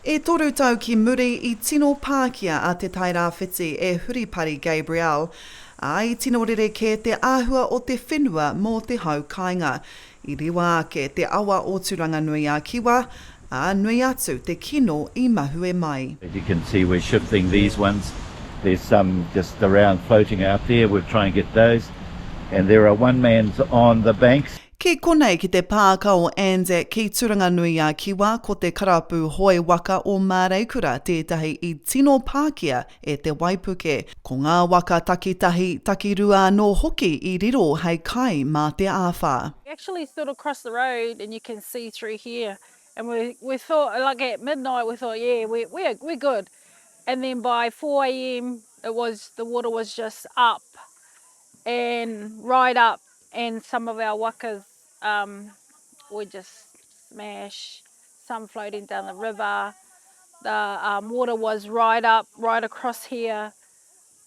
E toru tau ki muri, i tino pākia a Te Tairāwhiti e Huripari Gabriel, ā, i tino rerekē te āhua o te whenua mō te hau kāinga. I rewa ake te awa o Turanganui-a-Kiwa, ā, nui atu te kino i mahue mai. As you can see we're shifting these ones, there's some just around floating out there, we'll try and get those, and there are one man's on the banks. Ki konei ki te pāka o Anzac ki Turanganui-a-Kiwa ko te karapu hoe waka o Māreikura tētahi i tino pākia e te waipuke. Ko ngā waka takitahi, takirua anō hoki i riro hei kai mā te āwhā. You actually sort of cross the road and you can see through here and we we thought like at midnight we thought yeah we we are we're good and then by four am it was the water was just up and ride up and some of our wakas um we just smash some floating down the river the um water was right up right across here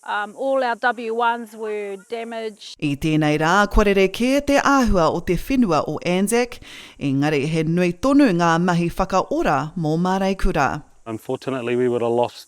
um all our w ones were damaged. I tēnei rā kua rere kē te āhua o te whenua o Anzac, engari he nui tonu ngā mahi whakaora mō Māreikura. Unfortunately we would have lost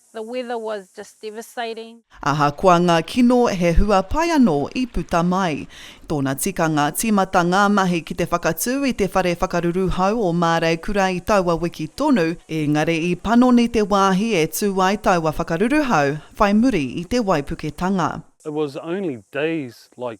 The weather was just devastating. Ahakoa ngā kino he hua pai anō i puta mai. Tōna tikanga, tīmata ngā mahi ki te whakatū i te whare whakaruru hou o Māreikura i taua wiki tonu, ēngari i panoni te wāhi e tū ai taua whakaruru hou whai muri i te waipuketanga. It was only days like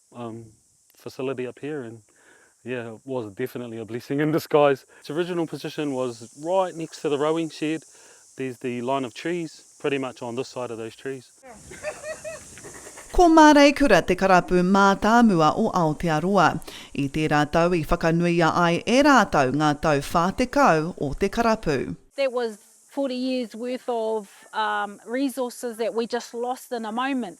Um, facility up here and yeah it was definitely a blessing in disguise. Its original position was right next to the rowing shed. There's the line of trees pretty much on this side of those trees. Ko Māreikura te karapu mātāmua o Aotearoa. I tērā tau i whakanuia ai e rātou ngā tau 40 o te karapu. That was forty years worth of um resources that we just lost in a moment.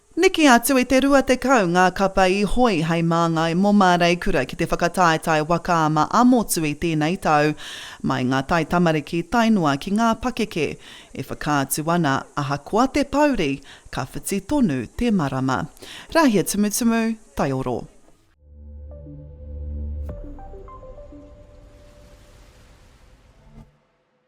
Neke atu i te 20 ngā kapa i hoi hei māngai mō Māreikura ki te whakataetae waka a Maamotu i tēnei tau, mai ngā taitamariki tae noa ki ngā pakeke. E whakaatu ana, ahakoa te pouri, ka whiti tonu te marama. Rāhiatumutumu, Taioro.